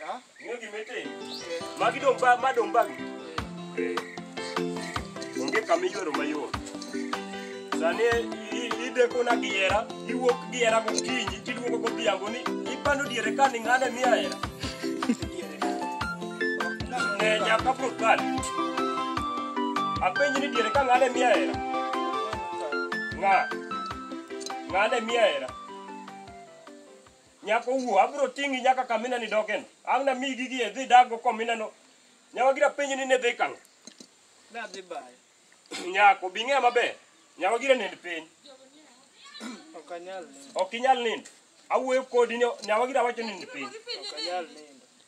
Ah? Ing'e gima itimo? Eh, Magi dong' ba- ma dong' bagi. eh. Eh. Onge kama iywero mayot. Sani i- i- idekona gi hera, iwuok gi hera gokinyi, tiduogo godhiambo ni ipando diere ka ni ng'ane miya hera. Ne nyaka prokali. Apenji ni diere ka ng'ane miya hera. Ng'a? Ng'ane miya hera. Nyako wuo, abro ting'i nyaka kamina ni dogen. Ang' na migi gi edhi dago komina no. Nyawa gira penji ni ne dhi kang'. Ne adhi bayo. Nyako, bing'e maber. Nyawa gira nend piny. Ok anyal nindo. Ok inyal nindo. Awuoyo kodi ni nyawa gira wacho nind piny. Ok anyal nindo.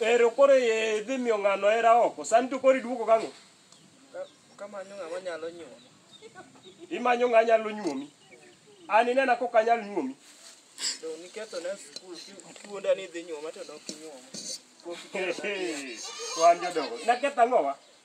Ero koro e dhi miyo ng'ano hera oko. Sani to koro iduogo gang'o? Kamanyo ng'ama nyalo nyuomi. Imanyo ng'a nyalo nyuomi. An inena kok anyal nyuomi. To niketho na skul kiwuonda ni idhi nyuoma to ne ok inyuoma. Wan jodongo. Naketho ang'owa?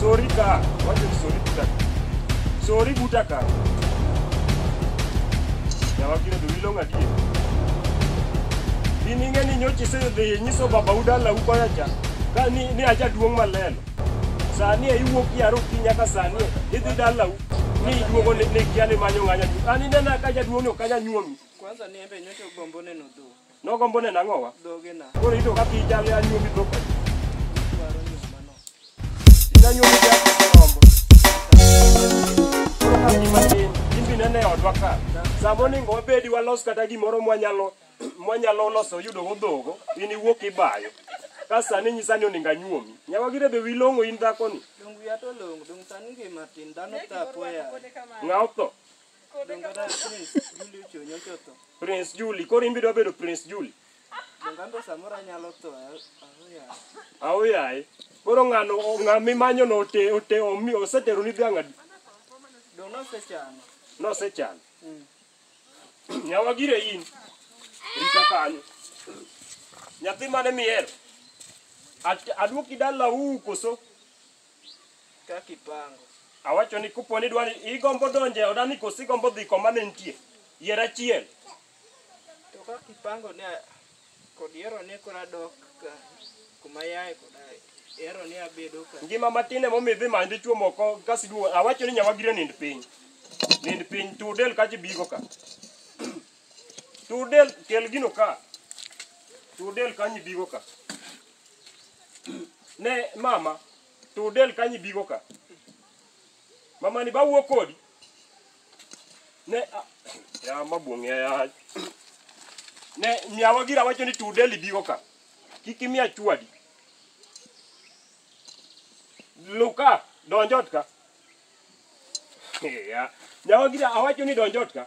Sorry ka. What is sorry buta? Sorry buta ka. Ya wakile do ilonga die. Ini ngeni nyochi se de nyiso baba udala uko ya cha. Ka ni ni aja duong malelo. Sani e iwuok yaro kinya ka sani idhi dala u. Ni iduogo ne ne kiani manyo nganya. Ani nena ka jaduong no kanya nyuomi. Kwanza ni embe nyote ugombo neno dho. Nogombo neno ang'owa? Dhoge na. Koro ito kaka ijalo ya nyuomi dhok. Dwaro ni mano. Ina nyuomi ya rombo. Koro ka ni matin, in bi nene odwa ka. Samo ni ngo bedi walos kata gimoro mwanyalo mwanyalo loso yudo go dhogo, in iwuok ibayo. Ka sani nyisa ni oninga nyuomi. Nyawa gire be wilongo in dhako ni. Dongu ya to longo. Dongu sani ngi matin. Dano ta poya. Ng'aw tho. Prince Julie, koro in be idwa bedo Prince Julie. Donganto samoro anyalo tho. Awo yaye. Koro ng'ano ng'a mimanyo no ote ote omi osetero ni dhiang' adi? Dong' nosechano. Nosechano. Nyawa gire in. Rita kanyo. Nyathi mane mihero. At- Aduoki dala u koso? Kaka ipango. Awacho ni kupo ni dwani igombo donje odani kosi gombo dhi koma ne nitie. Yier achiel. To kaka ipango ne kod yiero ni kora dok ka kuma yae koda yiero ni abedo ka. Ngima matin emo midhi many dichuo moko kasi duo. Awacho ni nyawa gire nind piny. Nind piny tudel kaji bigo ka. Tudel kel gino ka. Tudel kanyi bigo ka. ne mama to del kanyi bigo ka mama ni bawuo kodi ne a- ya mabuong'e ya ne miawa gira wacho ni to del bigo ka kik imiya chwadi luka donjot ka ya nyawa gira awacho ni donjot ka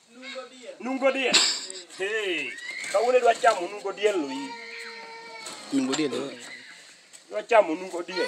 Nungo diel. Hey, kawuono idwa chamo nungo diel lo in. Nungo diel. Idwa chamo nungo diel.